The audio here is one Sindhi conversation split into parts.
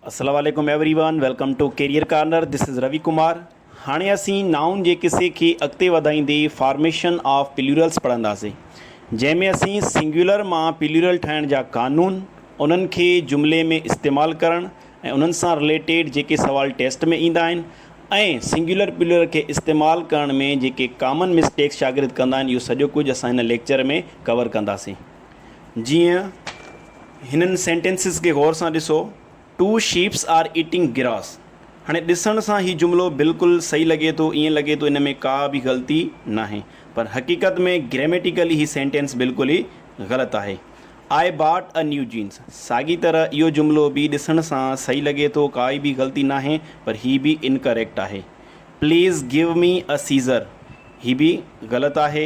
اسلام عليڪم everyone welcome to career corner this is Ravi Kumar هاڻي اسين نائون جي قصي کي اڳتي وڌائيندي فارميشن آف پليورلس پڙهنداسين جنهن ۾ اسين سنگيولر مان پليورل ٺاهڻ جا قانون انهن کي جملي ۾ استعمال ڪرڻ ۽ انهن سان رليٽيڊ جيڪي سوال ٽيسٽ ۾ ايندا آهن ۽ سنگيولر پليورل کي استعمال ڪرڻ ۾ جيڪي ڪامن مسٽيڪس شاگرد ڪندا آهن اهو سڄو ڪجهه اسان هن ليڪچر ۾ ڪور ڪنداسين جيئن هنن سينٽينسز کي غور سان ڏسو، two shapes are eating grass. هاڻي ڏسڻ سان هي جملو بلڪل صحيح لڳي ٿو، ائين لڳي ٿو ان ۾ ڪا به غلطي ناهي، پر حقيقت ۾ گريميٽيڪلي هي سينٽينس بلڪل ئي غلط آهي. آء باٽ اي نيو جينس. ساڳي طرح اهو جملو به ڏسڻ سان صحيح لڳي ٿو، ڪائي به غلطي ناهي، پر هي به انڪريڪٽ آهي. Please give me a scissor. هي به غلط آهي.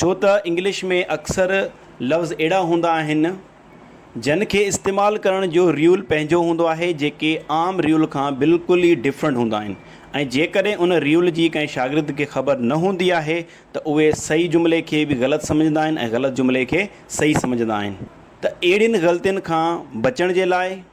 ڇو ته انگلش ۾ اڪثر لفظ اهڙا هوندا آهن جن کي استعمال ڪرڻ جو ريول پنهنجو هوندو آهي جيڪي عام ريول کان بلڪل ئي ڊفرنٽ هوندا آهن ۽ جيڪڏهن ان ريول جي ڪنهن شاگرد کي خبر نه هوندي آهي ته اهي صحيح جملي کي به غلط سمجهندا آهن ۽ غلط جملي کي صحيح سمجهندا آهن ته اهڙين غلطين کان بچڻ جي لاء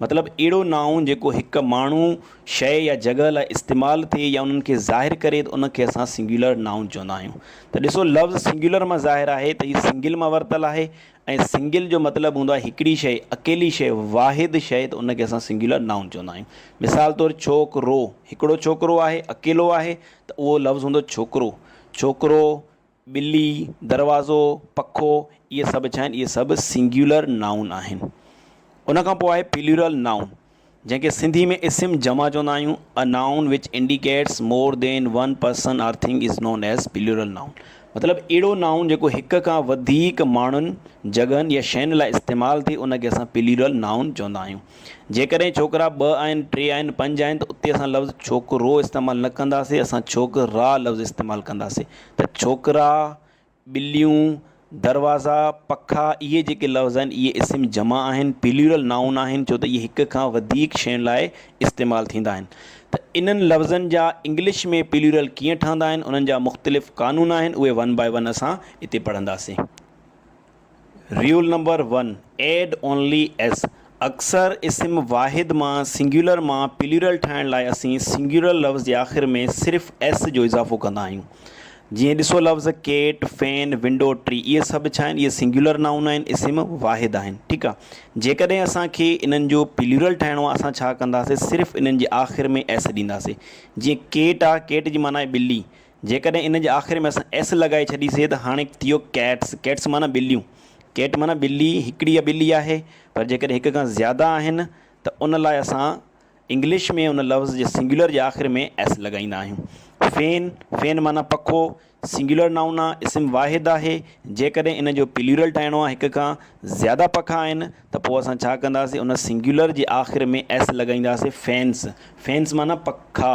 مطلب اهڙو نائون جيڪو هڪ ماڻهو، شيء يا جڳهه لاء استعمال ٿئي يا انهن کي ظاهر ڪري ته ان کي اسان سنگيولر نائون چوندا آهيون. ته ڏسو لفظ سنگيولر مان ظاهر آهي ته هي سنگل مان ورتل آهي ۽ سنگل جو مطلب هوندو آهي هڪڙي شيء، اڪيلي شيء، واحد شيء ته ان کي اسان سنگيولر نائون چوندا آهيون. مثال طور ڇوڪ رو هڪڙو ڇوڪرو آهي، اڪيلو آهي ته اهو لفظ هوندو ڇوڪرو، ڇوڪرو، ٻلي، دروازو، پکو، اهي سڀ ڇا آهن؟ اهي سڀ سنگيولر نائون آهن. ان کان پوء آهي پليورل نائون، جنهن کي سنڌي ۾ اسم جمع چوندا آهيون. A noun which indicates more than one person or thing is known as plural noun. مطلب، اهڙو نائون جيڪو هڪ کان وڌيڪ ماڻهن، جڳهن يا شين لاء استعمال ٿئي، ان کي اسان پليورل نائون چوندا آهيون. جيڪڏهن ڇوڪرا ٻه آهن، ٽي آهن، پنج آهن ته اتي اسان لفظ ڇوڪرو استعمال نه ڪنداسين، اسان ڇوڪرا لفظ استعمال ڪنداسين. ته ڇوڪرا، ٻليون، دروازا، پکا اهي جيڪي لفظ آهن اهي اسم جمع آهن، پليورل نائون آهن ڇو ته اهي هڪ کان وڌيڪ شين لاء استعمال ٿيندا آهن ته انهن لفظن جا انگلش ۾ پليورل ڪيئن ٺهندا آهن انهن جا مختلف قانون آهن اهي ون باء ون اسان هتي پڙهنداسين. Rule Number One، Add Only S اڪثر اسم واحد مان سنگيولر مان پليورل ٺاهڻ لاء اسين سنگيولر لفظ جي آخر ۾ صرف S جو اضافو ڪندا آهيون. جيئن ڏسو لفظ ڪيٽ، فين، ونڊو، ٽري اهي سڀ ڇا آهن؟ اهي سنگيولر نائون آهن، اسم واحد آهن. ٺيڪ آهي. جيڪڏهن اسان کي انهن جو پليورل ٺاهڻو آهي اسان ڇا ڪنداسين صرف انهن جي آخر ۾ S ڏينداسين. جيئن ڪيٽ آهي ڪيٽ جي معنيٰ آهي ٻلي. جيڪڏهن ان جي آخر ۾ اسان ايس لڳائي ڇڏيسي ته هاڻي ٿيو ڪيٽس، ڪيٽس معنيٰ ٻليون، ڪيٽ معنيٰ ٻلي، هڪڙي يا ٻلي آهي، پر جيڪڏهن هڪ کان زياده آهن ته ان لاء اسان انگلش ۾ ان لفظ جي سنگيولر جي آخر ۾ ايس لڳائيندا آهيون. فين، فين معنيٰ پکو، سنگيولر نائون آ، اسم واحد آهي، جيڪڏهن ان جو پليورل ٺاهڻو آ، هڪ کان زياده پکا آهن، ته پوء اسان ڇا ڪنداسين، ان سنگيولر جي آخر ۾ ايس لڳائينداسين، فينس، فينس معنيٰ پکا.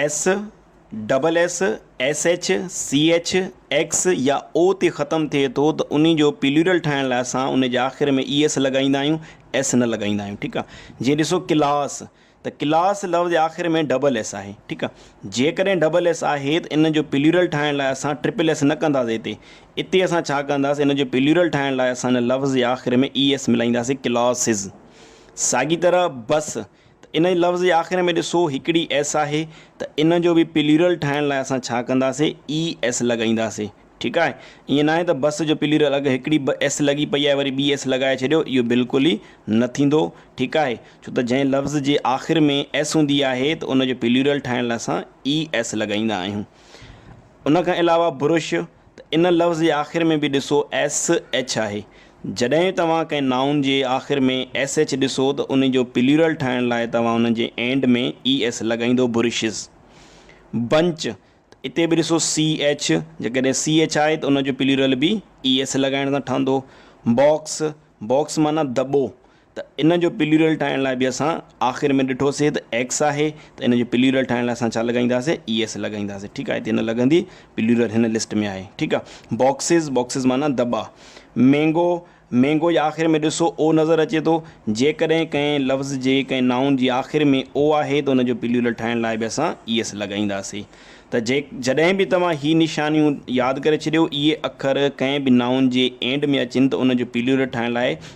S, double S, S H, C H, X يا او تي ختم ٿئي ٿو ته انهي جو پليورل ٺاهڻ لاء اسان انهي جي آخر ۾ اي ايس لڳائيندا آهيون ايس نه لڳائيندا آهيون ٺيڪ آ جيئن ڏسو ڪلاس ته ڪلاس لفظ جي آخر ۾ ڊبل ايس آهي ٺيڪ آ جيڪڏهن ڊبل ايس آهي ته ان جو پليورل ٺاهڻ لاء اسان ٽرپل ايس نه ڪنداسي اتي اتي اسان ڇا ڪنداسي ان جو پليورل ٺاهڻ لاء اسان ان لفظ جي آخر ۾ اي ايس ملائينداسي ڪلاسز ساڳي طرح بس ته انهي لفظ جي آخر ۾ ڏسو هڪڙي ايس آهي ته ان جو به پليورل ٺاهڻ لاء اسان ڇا ڪنداسين اي ايس لڳائينداسين ٺيڪ آهي ائين ناهي ته بس جو پليورل اگر هڪڙي به ايس لڳي پئي آهي وري ٻي ايس لڳائي ڇڏيو اهو بلڪل ئي نه ٿيندو ٺيڪ آهي ڇو ته جنهن لفظ جي آخر ۾ ايس هوندي آهي ته ان جو پليورل ٺاهڻ لاء اسان اي ايس لڳائيندا آهيون ان کان علاوه برش ته ان لفظ جي آخر ۾ به ڏسو ايس ايڇ آهي جڏهن توهان ڪنهن نائون جي آخر ۾ ايس ايڇ ڏسو ته ان جو پليورل ٺاهڻ لاء توهان ان جي اينڊ ۾ اي ايس لڳائيندو برشز، بنچ، ته اتي به ڏسو سي ايڇ، جيڪڏهن سي ايڇ آهي ته ان جو پليورل به اي ايس لڳائڻ سان ٺهندو، باڪس، Box، معنيٰ دٻو، ته ان جو پليورل ٺاهڻ لاء به اسان آخر ۾ ڏٺوسي ته ايڪس آهي ته ان جو پليورل ٺاهڻ لاء اسان ڇا لڳائينداسي اي ايس لڳائينداسي ٺيڪ آهي هتي نه لڳندي پليورل هن لسٽ ۾ آهي ٺيڪ آهي باڪسز باڪسز معنيٰ دٻا مينگو مينگو جي آخر ۾ ڏسو او نظر اچي ٿو جيڪڏهن ڪنهن لفظ جي ڪنهن نائون جي آخر ۾ او آهي ته ان جو پليورل ٺاهڻ لاء به اسان اي ايس لڳائينداسي ته جي جڏهن به توهان هي نشانيون ياد ڪري ڇڏيو اهي اکر ڪنهن به نائون جي اينڊ ۾ اچن ته ان جو پليورل ٺاهڻ لاء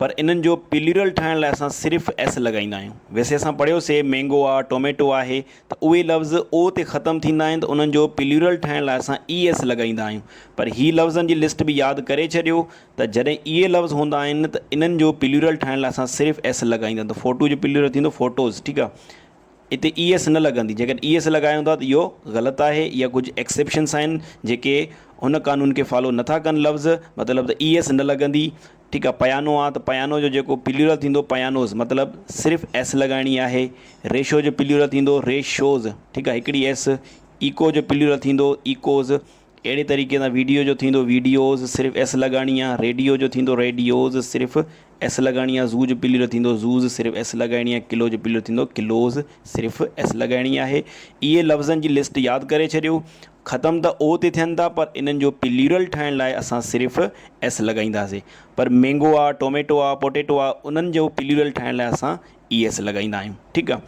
پر انهن جو پليورل ٺاهڻ لاء اسان صرف ايس لڳائيندا آهيون. ويسي اسان پڙهيوسي مينگو آ، ٽوميٽو آهي ته اهي لفظ او تي ختم ٿيندا آهن ته انهن جو پليورل ٺاهڻ لاء اسان اي ايس لڳائيندا آهيون. پر هي لفظن جي لسٽ به ياد ڪري ڇڏيو ته جڏهن اهي لفظ هوندا آهن ته انهن جو پليورل ٺاهڻ لاء اسان صرف ايس لڳائيندا ته فوٽو جو پليورل ٿيندو فوٽوز ٺيڪ آ. اتي اي ايس نه لڳندي، جيڪڏهن اي ايس لڳايون ٿا ته اهو غلط آهي، اها ڪجهه ايڪسيپشنس آهن جيڪي ان قانون کي فالو نه ٿا ڪن لفظ مطلب ته اي ايس نه لڳندي ٺيڪ آهي پيانو آ ته پيانو جو جيڪو پليورل ٿيندو پيانوز مطلب صرف ايس لڳائڻي آهي ريشو جو پليورل ٿيندو ريشوز ٺيڪ آهي هڪڙي ايس ايڪو جو پليورل ٿيندو ايڪوز اهڙي طريقي سان ويڊيو جو ٿيندو ويڊيوز، صرف ايس لڳائڻي آهي. ريڊيو جو ٿيندو ريڊيوز، صرف ايس لڳائڻي آهي. زو جو پليورل ٿيندو زوز، صرف ايس لڳائڻي آهي. ڪلو جو پليورل ٿيندو ڪلوز، صرف ايس لڳائڻي آهي. اهي لفظن جي لسٽ ياد ڪري ڇڏيو. ختم ته او تي ٿين ٿا پر انهن جو پليورل ٺاهڻ لاء اسان صرف ايس لڳائينداسين. پر مينگو آهي، ٽوميٽو آهي، پوٽيٽو آهي انهن جو پليورل ٺاهڻ لاء اسان اي ايس لڳائيندا آهيون ٺيڪ آ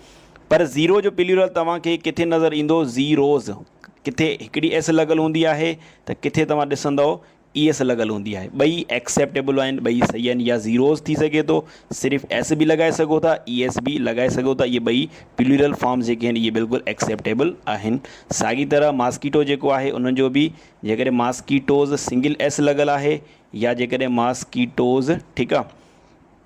پر زيرو جو پليورل توهان کي ڪٿي نظر ايندو زيروز ڪٿي هڪڙي ايس لڳل هوندي آهي ته ڪٿي توهان ڏسندو اي ايس لڳل هوندي آهي ٻئي ايڪسيپٽيبل آهن ٻئي صحيح آهن يا زيروز ٿي سگهي ٿو صرف ايس به لڳائي سگهو ٿا اي ايس به لڳائي سگهو ٿا اهي ٻئي پليورل فارمز جيڪي آهن اهي بلڪل ايڪسيپٽيبل آهن ساڳي طرح ماسڪيٽو جيڪو آهي ان جو به جيڪڏهن ماسڪيٽوز سنگل ايس لڳل آهي يا جيڪڏهن ماسڪيٽوز ٺيڪ آ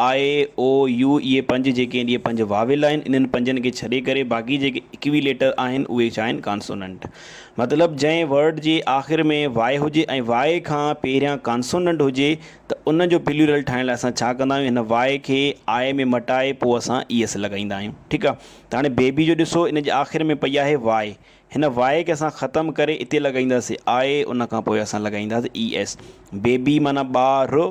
آء، او، يو اهي پنج جيڪي آهن اهي پنج واويل آهن انهن پنجن کي ڇڏي ڪري باقي جيڪي اڪوي ليٽر آهن اهي ڇا آهن ڪانسوننٽ مطلب جنهن ورڊ جي آخر ۾ وائي هجي ۽ وائي کان پهريان ڪانسوننٽ هجي ته ان جو پليورل ٺاهڻ لاء اسان ڇا ڪندا آهيون هن وائي کي آء ۾ مٽائي پوء اسان اي ايس لڳائيندا آهيون ٺيڪ آهي ته هاڻي بيبي جو ڏسو ان جي آخر ۾ پئي آهي وائي هن وائي کي اسان ختم ڪري اتي لڳائينداسين آء ان کان پوء اسان لڳائينداسين اي ايس بيبي معنيٰ ٻا ر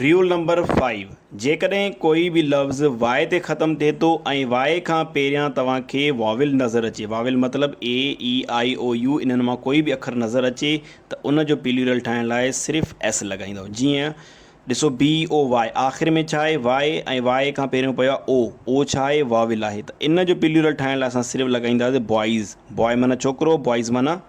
Rule Number Five، جيڪڏهن ڪوئي به لفظ وائي تي ختم ٿئي ٿو ۽ وائي کان پهريان توهان کي واويل نظر اچي، واويل مطلب اي، اي، آئي، او، يو، انهن مان ڪوئي به اکر نظر اچي ته ان جو پليورل ٺاهڻ لاء صرف ايس لڳائيندؤ. جيئن ڏسو بي، او، وائي آخر ۾ ڇا آهي؟ وائي ۽ وائي کان پهريون پيو آهي او، او ڇا آهي؟ واويل آهي ته ان جو پليورل ٺاهڻ لاء اسان صرف لڳائينداسين بوائيز، بوائي معنيٰ ڇوڪرو، بوائيز معنيٰ.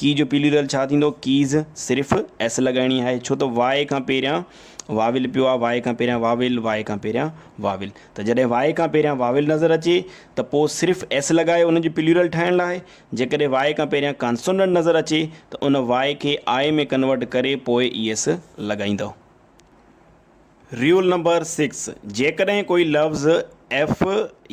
ڪي جو پيليورل ڇا ٿيندو ڪيز صرف ايس لڳائڻي آهي ڇو ته واء کان پهريان واويل پيو آهي واء کان پهريان واويل واء کان پهريان واويل ته جڏهن واء کان پهريان واويل نظر اچي ته پوء صرف ايس لڳائي ان جو پيليورل ٺاهڻ لاء جيڪڏهن واء کان پهريان ڪانسونڊنٽ نظر اچي ته ان واء کي آء ۾ ڪنورٽ ڪري پوء اي ايس لڳائيندو. Rule Number Six، جيڪڏهن ڪوئي لفظ ايف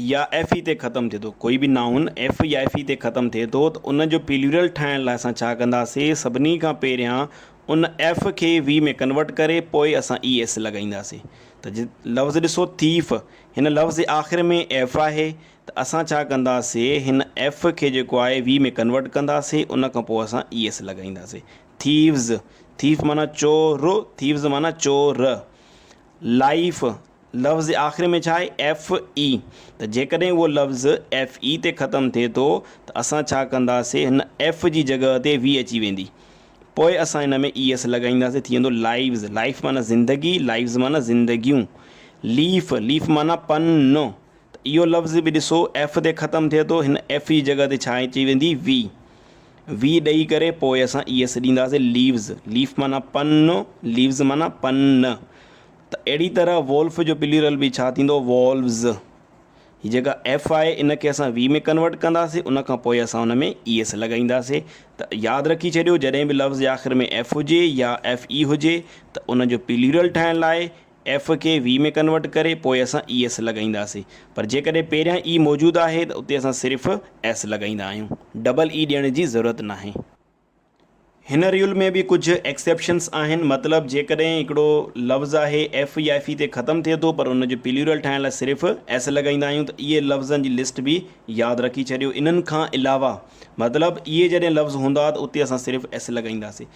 يا ايف اي تي ختم ٿئي ٿو، ڪوئي به نائون ايف يا ايف اي تي ختم ٿئي ٿو ته ان جو پيليورل ٺاهڻ لاء اسان ڇا ڪنداسين سڀني کان پهريان ان ايف کي وي ۾ ڪنورٽ ڪري پوء اسان اي ايس لڳائينداسين ته جي لفظ ڏسو ٿيف هن لفظ جي آخر ۾ ايف آهي ته اسان ڇا ڪنداسين هن ايف کي جيڪو آهي وي ۾ ڪنورٽ ڪنداسين ان کان پوء اسان اي ايس لڳائينداسين Thieves، ٿيف معنيٰ چو ر، Thieves معنيٰ چو ر. Life، لفظ جي آخر ۾ ڇا آهي؟ ايف اي، ته جيڪڏهن اهو لفظ ايف اي تي ختم ٿئي ٿو ته اسان ڇا ڪنداسين؟ هن ايف جي جڳهه تي وي اچي ويندي. پوء اسان ان ۾ اي ايس لڳائينداسين، ٿي ويندو Lives، Life معنيٰ زندگي، Lives معنيٰ زندگيون. Leaf، Leaf معنيٰ پن، ته اهو لفظ به ڏسو ايف تي ختم ٿئي ٿو، هن ايف جي جڳهه تي ڇا اچي ويندي؟ وي. وي ڏئي ڪري پوء اسان اي ايس ڏينداسين ليوز ليف معنيٰ پن ليوز معنيٰ پن ته اهڙي طرح وولف جو پليورل به ڇا ٿيندو وولوز هي جيڪا ايف آهي ان کي اسان وي ۾ ڪنورٽ ڪنداسين ان کان پوء اسان ان ۾ اي ايس لڳائينداسين ته ياد رکي ڇڏيو جڏهن به لفظ جي آخر ۾ ايف هجي يا ايف اي هجي ته ان جو پليورل ٺاهڻ لاء ايف کي وي ۾ ڪنورٽ ڪري پوء اسان اي ايس لڳائينداسين پر جيڪڏهن پهريان اي موجود آهي ته اتي اسان صرف ايس لڳائيندا آهيون ڊبل اي ڏيڻ جي ضرورت ناهي. هن ريول ۾ به ڪجهه ايڪسيپشنس آهن مطلب جيڪڏهن هڪڙو لفظ آهي ايف يا ايف اي تي ختم ٿئي ٿو پر ان جو پليورل ٺاهڻ لاء صرف ايس لڳائيندا آهيون ته اهي لفظن جي لسٽ به ياد رکي ڇڏيو انهن کان علاوه مطلب اهي جڏهن لفظ هوندا ته اتي اسان صرف ايس لڳائينداسين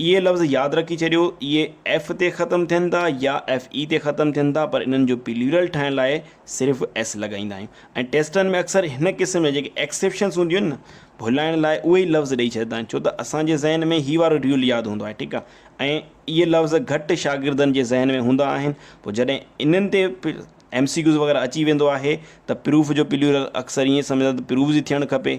اهي لفظ ياد رکي ڇڏيو، اهي ايف تي ختم ٿين ٿا يا ايف اي تي ختم ٿين ٿا پر انهن جو پليورل ٺاهڻ لاء صرف ايس لڳائيندا آهيون ۽ ٽيسٽن ۾ اڪثر هن قسم جا جيڪي ايڪسيپشنس هونديون آهن نه ڀلائڻ لاء اهي ئي لفظ ڏئي ڇڏيندا آهن ڇو ته اسان جي ذهن ۾ هي وارو ريول ياد هوندو آهي ٺيڪ آهي ۽ اهي لفظ گهٽ شاگردن جي ذهن ۾ هوندا آهن پوء جڏهن انهن تي ايم سي ڪيوز وغيره اچي ويندو آهي ته پروف جو پليورل اڪثر ائين سمجهندا ته پروفز ئي ٿيڻ کپي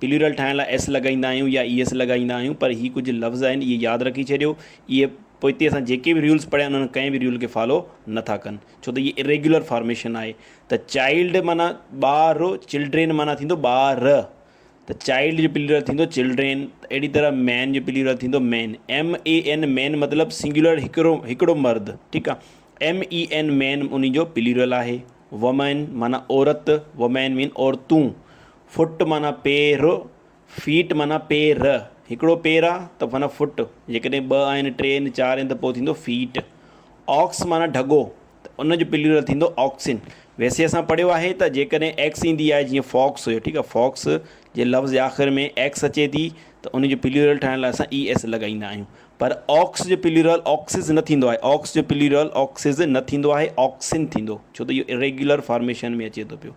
پليورل ٺاهڻ لاء ايس لڳائيندا آهيون يا ايس لڳائيندا آهيون پر هي ڪجهه لفظ آهن اهي ياد رکي ڇڏيو اهي پوئتي اسان جيڪي به ريولز پڙهيا انهن ڪنهن به ريول کي فالو نه ٿا ڪن ڇو ته هي اريگيولر فارميشن آهي ته چائلڊ معنيٰ ٻار چلڊرين معنيٰ ٿيندو ٻار ته چائلڊ جو پليورل ٿيندو چلڊرين اهڙي طرح مين جو پليورل ٿيندو مين ايم اي اين مين مطلب سنگيولر هڪڙو هڪڙو مرد ٺيڪ آهي ايم اي اين مين ان جو پليورل آهي وومين معنيٰ عورت وومين مين عورتون فٽ معنيٰ پير، Feet معنيٰ پير، هڪڙو پير آ ته معنيٰ فٽ، جيڪڏهن ٻه آهن، ٽي آهن، چار آهن ته پوء ٿيندو فيٽ. آڪس معنيٰ ڍڳو ته ان جو پليورل ٿيندو آڪسن. ويسي اسان پڙهيو آهي ته جيڪڏهن ايڪس ايندي آهي جيئن فاڪس هيو ٺيڪ آ فاڪس جي لفظ جي آخر ۾ ايڪس اچي ٿي ته ان جو پليورل ٺاهڻ لاء اسان اي ايس لڳائيندا آهيون پر آڪس جو پليورل آڪسز نه ٿيندو آهي آڪس جو پليورل آڪسز نه ٿيندو آهي آڪسن ٿيندو ڇو ته اهو ريگيولر فارميشن ۾ اچي ٿو پيو.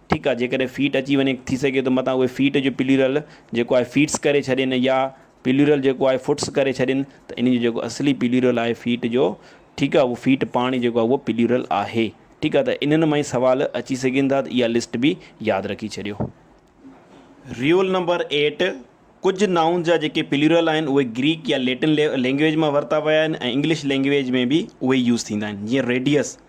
ٺيڪ آ جيڪڏهن فيٽ اچي وڃي ٿي سگهي ٿو متان اهي فيٽ جو پليورل جيڪو آهي فيٽس ڪري ڇڏين يا پليورل جيڪو آهي فٽس ڪري ڇڏين ته انهن جو جيڪو اصلي پليورل آهي فيٽ جو ٺيڪ آ اهو فيٽ پاڻ ئي جيڪو آهي اهو پليورل آهي ٺيڪ آ ته انهن مان ئي سوال اچي سگهين ٿا ته اها لسٽ به ياد رکي ڇڏيو. رول نمبر ايٽ ڪجهه نائونز جا جيڪي پليورل آهن اهي گريڪ يا ليٽن لينگويج مان ورتا ويا آهن ۽ انگلش لينگويج ۾ به اهي ئي يوز ٿيندا آهن جيئن ريڊيس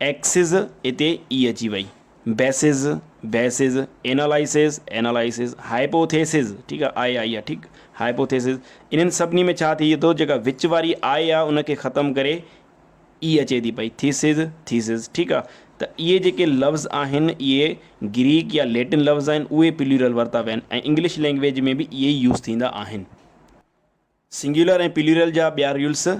ايڪسز اتي ئي اچي وئي. Bases, Bases، analyses, Analysis، hypotheses, ٺيڪ آ، آء آئي آ، ٺيڪ، هائپوٿيسز، انهن سڀني ۾ ڇا ٿئي ٿو جيڪا وچ واري آء آ ان کي ختم ڪري ئي اچي ٿي پئي ٿيسز، Thesis، ٺيڪ آ، ته اهي جيڪي لفظ آهن اهي گريڪ يا ليٽن لفظ آهن اهي پليورل ورتا ويا آهن ۽ انگلش لينگويج ۾ به اهي ئي يوز ٿيندا آهن. سنگيولر ۽ پليورل جا ٻيا رولس.